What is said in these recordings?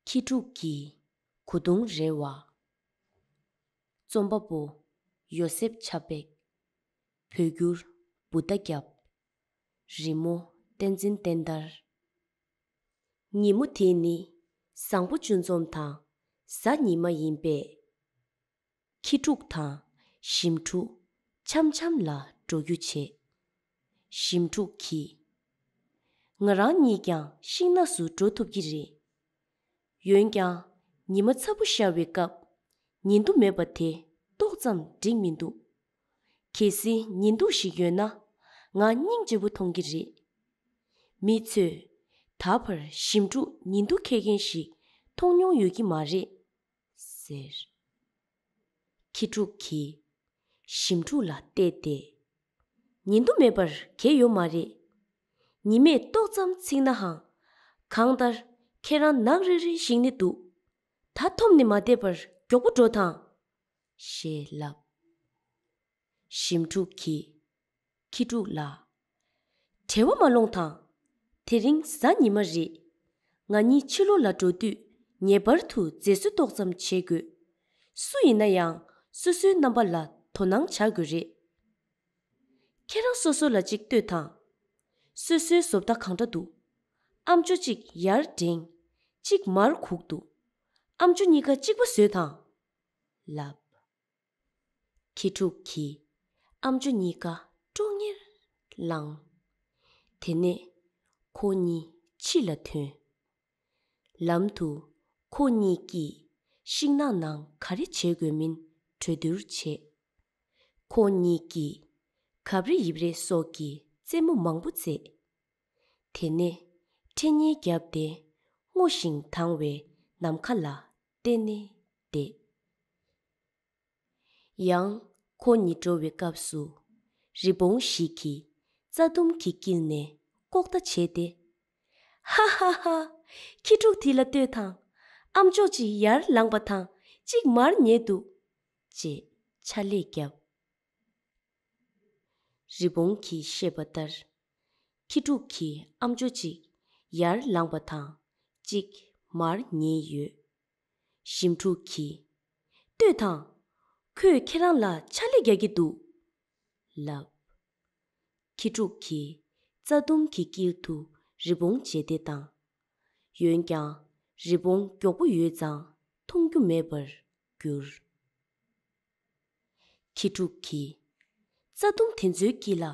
ཁྱི་ཕྲུག་གིས་གོ་དུང་རེ་བ། རྩོམ་པ་པོ། ཡོ་སེབ་ཆབ་འབེགས། བོད་སྒྱུར། འབུ་རྟ་བརྒྱབ། རི་མོ། བསྟན་འཛིན་བསྟན་དར། ཉིན་མོ་དེ་ནི་བཟང་པོ་བཅུ་འཛོམས་དང་གཟའ་ཉི་མ་ཡིན་པས། ཁྱི་ཕྲུག་དང་ཞིམ་ཕྲུག་འཆམ་འཆམ་ལ་འགྲོ་རྒྱུ་བྱེད། ཞིམ་ཕྲུག་གིས། ང་རང་ཉིད་ཀྱང་ཤིང་ནགས་སུ་འགྲོ་ཐུབ་ཀྱི་རེད། ཡོན་ཀྱང་ཉི་མ་ཚ་པོ་ཤར་བའི་སྐབས་ཉིན་དུ་མེད་པ་དེ་ཏོག་ཙམ་འགྲིག་མི་འདུག་གལ་སྲིད་ཉིན་དུ་ཞིག་ཡོད་ན་ང་སྙིང་རྗེ་པོ་མཐོང་གི་རེད། མི་ཚོས་ད་བར་ཞིམ་ཕྲུག་ཉིན་དུ་ཁེལ་མཁན་ཞིག་མཐོང་མྱོང་ཡོད་ཀྱི་མ་རེད། ཟེར། ཁྱི་ཕྲུག་གིས་ཞིམ་ཕྲུག་ལ་བལྟས་ཏེ། ཉིན་དུ་མེད་པར་གས་ཡོད་མ་རེད། ཉི་མས་ཏོག་ཙམ་ཚིག་ནའང། གང་ལྟར་ཁྱེད་རང་ནག་རིལ་རིལ་ཞིག་ནི་འདུག། ད་ཐོམ་ནི་མ་བསྡད་པར་མགྱོགས་པོ་འགྲོ་དང། ཞེས་ལབ། ཞིམ་ཕྲུག་གིས། ཁྱི་ཕྲུག་ལགས། བྲེལ་བ་མ་ལོངས་དང། དེ་རིང་གཟའ་ཉི་མ་རེད། ང་གཉིས་ཕྱི་ལོ་ལ་འགྲོ་དུས་ངེས་པར་དུ་མཛེས་བཟོ་ཏོག་ཙམ་བྱེད་དགོས། སུ་ཡིན་ན་ཡང་སོ་སོའི་རྣམ་པ་ལ་དོ་སྣང་བྱ་དགོས་རེད། ཁྱེད་རང་སོ་སོ་ལ་ཅིག་ལྟོས་དང། སོ་སོའི་བཟོ་ལྟ་གང་འདྲ་འདུག་ཨ་མཆོ་གཅིག་ཡར་བསྒྲེངས། གཅིག་མར་གུག་འདུག་ཨ་མཆོ་གཉིས་ཀ་གཅིག་པ་བཟོས་དང། ལབ། ཁྱི་ཕྲུག་གིས་ཨ་མཆོད་གཉིས་ཀ་ཀྲོང་ངེར་བླངས། དེ་ནས་ཁོ་གཉིས་ཕྱི་ལ་ཐོན། ལམ་དུ་ཁོ་གཉིས་ཀྱིས་ཤིང་ནགས་ནང་ག་རེ་བྱེད་དགོས་མིན་གྲོས་བསྡུར་བྱས། ཁོ་གཉིས་ཀྱིས་གབ་རེ་ཡིབ་རེ་སོགས་ཀྱི་རྩེད་མོ་མང་པོ་རྩེས། དེ་ནས་ཁྲེ་ཉེ་བརྒྱབ་སྟེ་སྔོ་ཞིང་དྭངས་བའི་ནམ་མཁའ་ལ་གཏན་ནས་བདེ། ཡང་ཁོ་གཉིས་འགྲོ་བའི་སྐབས་སུ་རི་བོང་ཞིག་གིས་རྩྭ་ལྡུམ་གྱིས་བསྐྱིལ་ནས་ལྐོག་ལྟ་བྱས་ཏེ། ཧཧཧ། ཁྱི་ཕྲུག་དེ་ལ་ལྟོས་དང། ཨམ་ཅོག་ཅིག་ཡར་ལངས་པ་དང་གཅིག་མར་ཉལ་འདུག། ཅེས་ཕྱག་ལས་བརྒྱབ། རི་བོང་གིས་བཤད་པ་ལྟར། ཁྱི་ཕྲུག་གིས་ཨ་མཆོ་གཅིག་ཡར་ལངས་པ་དང་གཅིག་མར་ཉེ་ཡོད། ཞིམ་ཕྲུག་གིས། ལྟོས་དང། ཁོས་ཁྱེད་རང་ལ་ཕྱག་ལས་རྒྱག་གི་འདུག་ལབ། ཁྱི་ཕྲུག་གིས་རྩྭ་ལྡུམ་གྱི་དཀྱིལ་དུ་རི་བོང་རྗེས་འདེད་བཏང། ཡོན་ཀྱང་རི་བོང་མགྱོགས་པོ་ཡོད་ཙང་མཐོང་རྒྱུ་མེད་པར་གྱུར། ཁྱི་ཕྲུག་གིས། རྩྭ་ལྡུམ་དེ་ཚོའི་དཀྱིལ་ལ་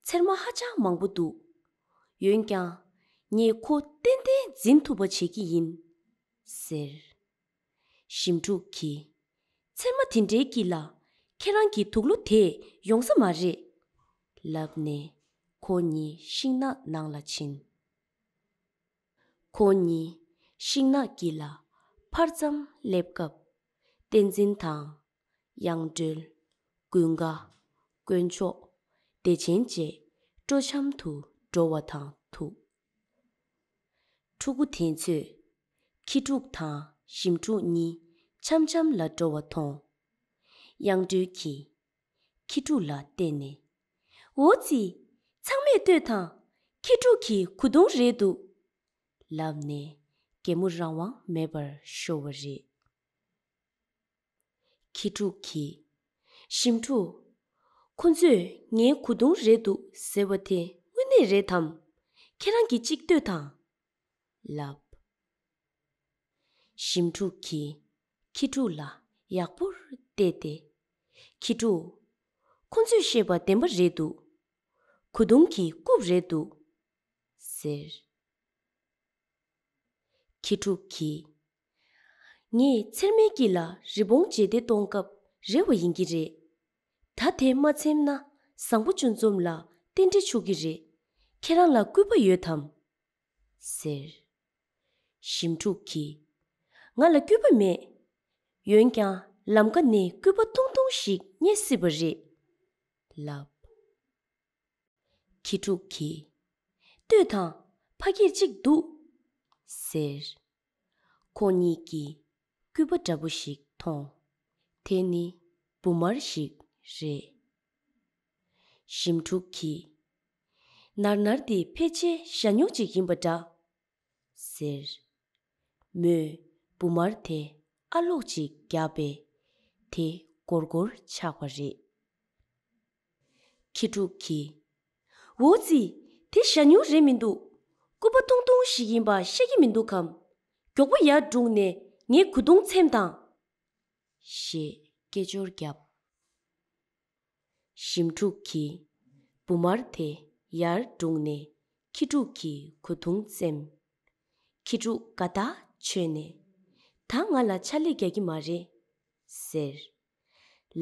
ཚེར་མ་ཧ་ཅང་མང་པོ་འདུག་ཡོན་ཀྱང། ངས་ཁོ་ཏན་ཏན་འཛིན་ཐུབ་པ་བྱེད་ཀྱི་ཡིན། ཟེར། ཞིམ་ཕྲུག་གིས། ཚེར་མ་དེ་འདྲའི་དཀྱིལ་ལ་ཁྱེད་རང་གི་དུག་ལོ་དེས་ཡོང་ས་མ་རེད། ལབ་ནས་ཁོ་གཉིས་ཤིང་ནགས་ནང་ལ་ཕྱིན། ཁོ་གཉིས་ཤིང་ནགས་ཀྱི་ལ་ཕར་ཙམ་སླེབས་སྐབས། བསྟན་འཛིན་དང། གཡང་སྒྲོལ། ཀུན་དགའ། དཀོན་མཆོག། བདེ་ཆེན་བཅས་སྤྲོ་འཆམ་དུ་འགྲོ་བ་དང་ཐུག། ཕྲུ་གུ་དེ་ཚོས་ཁྱི་ཕྲུག་དང་ཞིམ་ཕྲུག་གཉིས་འཆམ་འཆམ་ལ་འགྲོ་བ་མཐོང། གཡང་སྒྲོལ་གྱིས། ཁྱི་ཕྲུག་ལ་བལྟས་ནས། འོ་ཙི། ཚང་མས་ལྟོས་དང། ཁྱི་ཕྲུག་གི་གོ་བརྡུང་རེད་འདུག། ལབ་ནས་རྒན་མོ་རང་དབང་མེད་པར་ཤོར་བ་རེད། ཁྱི་ཕྲུག་གིས། ཞིམ་ཕྲུག། ཁོ་ཚོས་ངའི་གོ་བརྡུང་རེད་འདུག་ཟེར་བ་དེ་དངོས་གནས་རེད་དམ། ཁྱེད་རང་གིས་གཅིག་ལྟོས་དང། ལབ། ཞིམ་ཕྲུག་གིས་ཁྱི་ཕྲུག་ལ་ཡག་པོར་བལྟས་ཏེ། ཁྱི་ཕྲུག། ཁོ་ཚོས་བཤད་པ་བདེན་པ་རེད་འདུག། གོ་བརྡུང་གི་རྐུབ་རེད་འདུག། ཟེར། ཁྱི་ཕྲུག་གིས་ངས་ཚེར་མའི་སྐྱིད་ལ་རི་བོང་བརྗེས་ཏེ་གཏོང་སྐབས་རེ་བ་ཡིན་གྱི་རེད། ད་དེ་མ་འཚེམ་ན་བཟང་པོ་ཅུང་འཛོམས་ལ་རྟེན་འབྲེལ་ཆོག་གི་རེད། ཁྱེད་རང་ལ་སྐུད་པ་ཡོད་དམ། ཟེར། ཞིམ་ཕྲུག་གིས། ང་ལ་སྐུད་པ་མེད། ཡོན་ཀྱང་ལམ་ཀ་ནས་སྐུད་པ་ཐུང་ཐུང་ཞིག་རྙེད་སྲིད་པ་རེད། ལབ། ཁྱི་ཕྲུག་གིས། ལྟོས་དང། ཕ་སྐད་ཅིག་འདུག། ཟེར། ཁོ་གཉིས་ཀྱིས་སྐུད་པ་འདྲ་པོ་ཞིག་མཐོང། དེ་ནི་འབུ་མར་ཞིག་རེད། ཞིམ་ཕྲུག་གིས། ནར་ནར་འདི་ཕལ་ཆེར་ཞྭ་སྨྱུག་ཅིག་ཡིན་པ་འདྲ། ཟེར། མོས་འབུ་མར་དེ་ཨ་ལོག་ཅིག་བརྒྱབ་པས་དེ་སྒོར་སྒོར་ཆགས་པ་རེད། ཁྱི་ཕྲུག་གིས། འོ་ཙི། དེ་ཞྭ་སྨྱུག་རེད་མི་འདུག། སྐུད་པ་ཐུང་ཐུང་ཞིག་ཡིན་པ་ཤེས་ཀྱི་མི་འདུག་གམ། མགྱོགས་པོ་ཡར་བསྒྲུགས་ནས་ངའི་གུ་དུང་འཚེམ་དང། ཞེས་སྐད་ཅོར་བརྒྱབ། ཞིམ་ཕྲུག་གིས། འབུ་དམར་དེ་ཡར་བསྒྲུགས་ནས་ཁྱི་ཕྲུག་གི་གུ་དུང་འཚེམ། ཁྱི་ཕྲུག་དགའ་ཐག་ཆོད་ནས། ད་ང་ལ་ཕྱག་ལས་རྒྱག་གི་མ་རེད། ཟེར།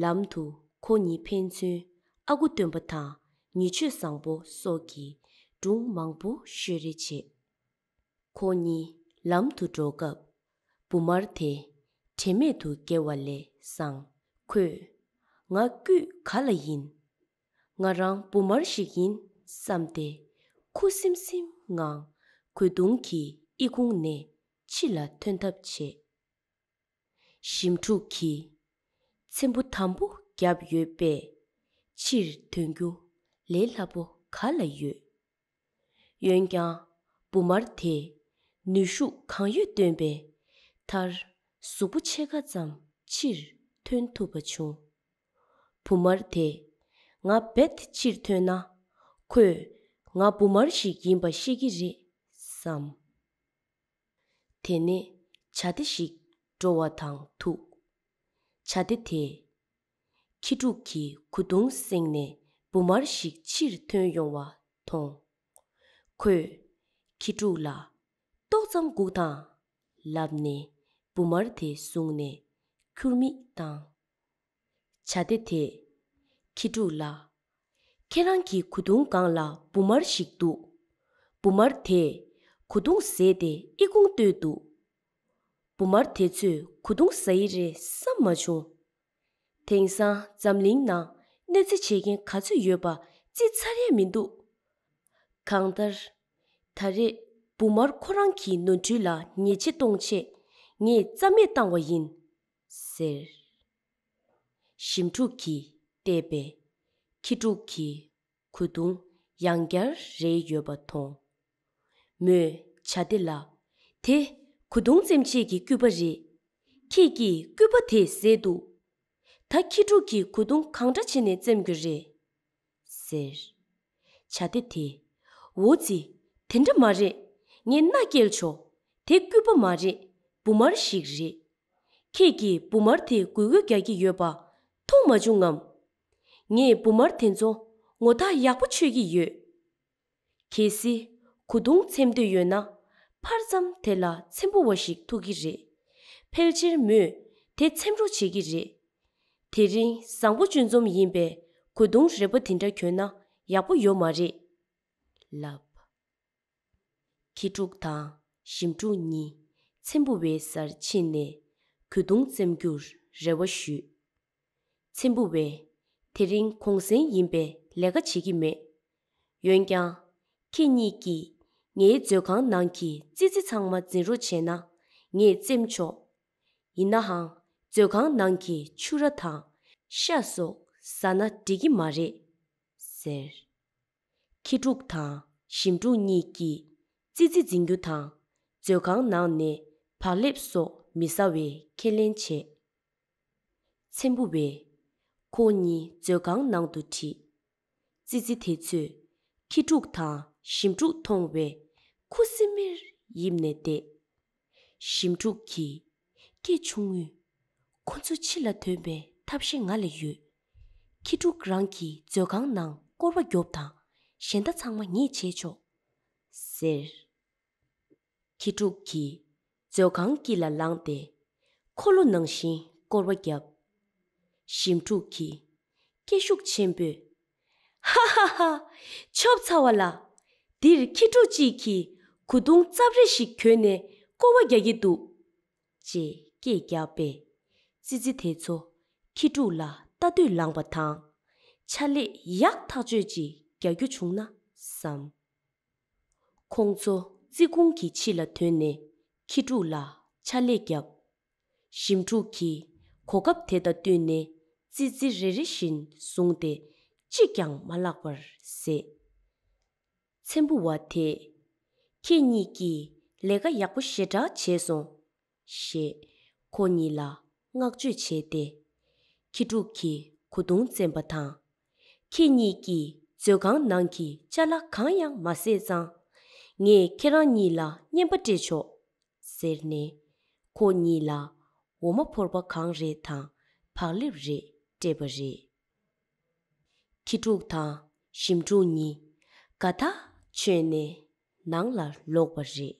ལམ་དུ་ཁོ་གཉིས་ཕན་ཚུན་ཨ་ཁུ་སྟོན་པ་དང་ཉི་ཆོས་བཟང་པོ་སོགས་ཀྱིས་སྒྲུང་མང་པོ་ཤོད་རེ་བྱས། ཁོ་གཉིས་ལམ་དུ་འགྲོ་སྐབས་བུ་དམར་དེ་དྲན་མེད་དུ་འགྱེལ་བ་ལས་སང་ཁོས། ང་སྐུད་ག་ལ་ཡིན། ང་རང་བུ་དམར་ཞིག་ཡིན་བསམས་ཏེ་ཁུ་སིམ་སིམ་ངང་གོས་དུང་གི་ཨི་ཁུང་ནས་ཕྱི་ལ་ཐོན་ཐབས་བྱས། ཞིམ་ཕྲུག་གིས་ཚེམ་བུ་དམ་པོ་བརྒྱབ་ཡོད་པས་ཕྱིར་དོན་རྒྱུ་ལས་སླ་པོ་ག་ལ་ཡོད། འོན་ཀྱང་འབུ་དམར་དེས་ནུས་ཤུགས་གང་ཡོད་བཏོན་པའི་མཐར་གཟུགས་པོ་ཕྱེད་ཀ་ཙམ་ཕྱིར་ཐོན་ཐུབ་པ་བྱུང། འབུ་དམར་དེས་ང་རྦད་དེ་ཕྱིར་ཐོན་ན་ཁོས་ང་འབུ་དམར་ཞིག་ཡིན་པ་ཤེས་ཀྱི་རེད་བསམས། དེ་ནས་བྱ་སྡེ་ཞིག་འགྲོ་བ་དང་ཐུག། བྱ་སྡེ་དེས། ཁྱི་ཕྲུག་གི་གུ་གདུང་བསྲེགས་ནས་འབུ་མར་ཞིག་ཕྱིར་ཐོན་ཡོང་བ་མཐོང། ཁོས། ཁྱི་ཕྲུག་ལ། ཏོག་ཙམ་སྒུག་དང། ལབ་ནས་འབུ་མར་དེ་བཟུང་ནས་ཁྱུར་མིད་བཏང། བྱ་སྡེ་དེས། ཁྱི་ཕྲུག་ལ། ཁྱེད་རང་གི་གོ་དུང་སྒང་ལ་འབུ་དམར་ཞིག་འདུག། འབུ་དམར་དེས་གོ་དུང་བཟས་ཏེ་ཨི་ཁུང་བརྟོལ་འདུག། འབུ་དམར་དེ་ཚོས་གོ་དུང་བཟའ་ཡི་རེད་བསམ་མ་བྱུང། དེང་སང་འཛམ་གླིང་ནང་གནོད་འཚེ་བྱེད་མཁན་ག་ཚོད་ཡོད་པ་རྩིས་ཚར་ཡས་མི་འདུག་གང་ལྟར། ད་རེས་འབུ་དམར་ཁོ་རང་གི་ནོར་འཁྲུལ་ལ་ཉེས་ཆད་གཏོང་ཆེད་ངས་རྩ་མེད་བཏང་བ་ཡིན། ཟེར། ཞིམ་ཕྲུག་གིས་བལྟས་པས་ཁྱི་ཕྲུག་གི་གོས་བརྡུང་ཡང་བསྐྱར་རེ་ཡོད་པ་མཐོང། མོས་བྱ་དེ་ལ། དེ་གོས་བརྡུང་བཙེམ་བྱེད་ཀྱི་སྐུད་པ་རེད། ཁྱེད་ཀྱིས་སྐུད་པ་དེ་བཟས་འདུག་ད་ཁྱི་ཕྲུག་གིས་གོས་བརྡུང་གང་འདྲ་བྱེད་ནས་བཙེམ་རྒྱུ་རེད། ཟེར། བྱ་སྡེ་དེས། འོ་ཙི། དེ་འདྲ་མ་རེད། ངས་མནའ་བསྐྱལ་ཆོག། དེ་སྐུད་པ་མ་རེད། འབུ་མར་ཞིག་རེད། ཁྱེད་ཀྱིས་འབུ་མར་དེ་འགུལ་འགུལ་རྒྱག་གི་ཡོད་པ། མཐོང་མ་བྱུང་ངམ། ངས་འབུ་མར་དེ་ཚོ། ངོ་ཐག་ཡག་པོ་ཆོད་ཀྱི་ཡོད། གལ་སྲིད་གོ་དུང་འཚེམ་འདོད་ཡོད་ན་ཕར་ཙམ་དེ་ལ་འཚེམ་པོ་བ་ཞིག་ཐུག་གི་རེད། ཕལ་ཆེར་མོས་དེ་འཚེམ་རོགས་བྱེད་ཀྱི་རེད། དེ་རིང་བཟང་པོ་གཅུན་འཛོམས་ཡིན་པས་གོ་དུང་རེག་པ་དེ་འདྲ་གྱོན་ན་ཡག་པོ་ཡོད་མ་རེད། ལབ། ཁྱི་ཕྲུག་དང་ཞིམ་ཕྲུག་གཉིས་འཚེམ་པོ་བའི་སར་ཕྱིན་ནས་གོ་དུང་འཚེམ་རྒྱུར་རེ་བ་ཞུས། ཚེམ་བུ་བས། དེ་རིང་གུང་གསེང་ཡིན་པས་ལས་ཀ་བྱེད་ཀྱི་མེད། འོན་ཀྱང། ཁྱེད་གཉིས་ཀྱིས་ངའི་མཛོད་ཁང་ནང་གི་ཙི་ཙི་ཚང་མ་འཛིན་རོགས་བྱས་ན་ངས་བཙེམས་ཆོག། ཡིན་ནའང་མཛོད་ཁང་ནང་གི་ཕྱུ་ར་དང་ཤ་སོགས་ཟ་ན་འགྲིག་གི་མ་རེད། ཟེར། ཁྱི་ཕྲུག་དང་ཞིམ་ཕྲུག་གཉིས་ཀྱིས་ཙི་ཙི་འཛིན་རྒྱུ་དང་མཛོད་ཁང་ནང་ནས་བག་ལེབ་སོགས་མི་ཟ་བའི་ཁས་ལེན་བྱས། ཚེམ་བུ་བས། ཁོ་གཉིས་མཛོད་ཁང་ནང་དུ་ཁྲིད། ཙི་ཙི་དེ་ཚོས་ཁྱི་ཕྲུག་དང་ཞིམ་ཕྲུག་མཐོང་བས་ཁུ་སིམ་མེར་ཡིབ་ནས་བསྡད། ཞིམ་ཕྲུག་གིས། སྐད་ཆུང་ངུས། ཁོ་ཚོ་ཕྱི་ལ་དོན་པའི་ཐབས་ཤེས་ང་ལ་ཡོད། ཁྱི་ཕྲུག་རང་གིས་མཛོད་ཁང་ནང་སྐོར་བ་རྒྱོབ་དང་གཞན་ད་ཚང་མ་ངས་བྱས་ཆོག། ཟེར། ཁྱི་ཕྲུག་གིས་མཛོད་ཁང་དཀྱིལ་ལ་ལངས་ཏེ། འཁོར་ལོ་ནང་བཞིན་བསྐོར་བ་བརྒྱབ། ཞིམ་ཕྲུག་གིས་སྐད་ཤུགས་ཆེན་པོས། ཧ་ཧ་ཧ། ཆོབ་ཚར་བ་ལ། འདིར་ཁྱི་ཕྲུག་ཅིག་གིས་གུ་གདུང་རྩབ་རེ་ཞིག་གྱོན་ནས་བསྐོར་བ་རྒྱག་གི་འདུག། ཅེས་སྐད་བརྒྱབ་པས། ཙི་ཙི་དེ་ཚོ་ཁྱི་ཕྲུག་ལ་ལྟ་དུས་ལངས་པ་དང། ཕྱག་ལས་ཡག་ཐག་ཆོད་ཅིག་རྒྱག་རྒྱུ་བྱུང་ན་བསམ། ཁོང་ཚོ་ཙི་གུང་གི་ཕྱི་ལ་དོན་ནས་ཁྱི་ཕྲུག་ལ་ཕྱག་ལས་བརྒྱབ། ཞིམ་ཕྲུག་གིས་གོ་སྐབས་དེ་དང་བསྟུན་ནས་ཙི་ཙི་རེ་རེ་བཞིན་བཟུང་སྟེ་གཅིག་ཀྱང་མ་བརླག་པར་བཟས། ཚེམ་བུ་བ་དེས། ཁྱེད་གཉིས་ཀྱིས་ལས་ཀ་ཡག་པོ་ཞེ་དྲག་བྱས་སོང། ཞེས་ཁོ་གཉིས་ལ་བསྔགས་བརྗོད་བྱས་ཏེ། ཁྱི་ཕྲུག་གིས་གོ་བརྡུང་བཙན་པ་དང། ཁྱེད་གཉིས་ཀྱིས་མཛོད་ཁང་ནང་གི་བཅའ་སླ་གང་ཡང་མ་ཟད་ཙང། ངས་ཁྱེད་རང་གཉིས་ལ་བརྙན་པ་སྤྲད་ཆོག། ཟེར་ནས། ཁོ་གཉིས་ལ་འོ་མ་ཕོར་པ་གང་རེ་དང་བག་ལེབ་རེ་སྤྲད་པ་རེད། ཁྱི་ཕྲུག་དང་ཞིམ་ཕྲུག་གཉིས་དགའ་ཐག་ཆོད་ནས་ནང་ལ་ལོག་པ་རེད།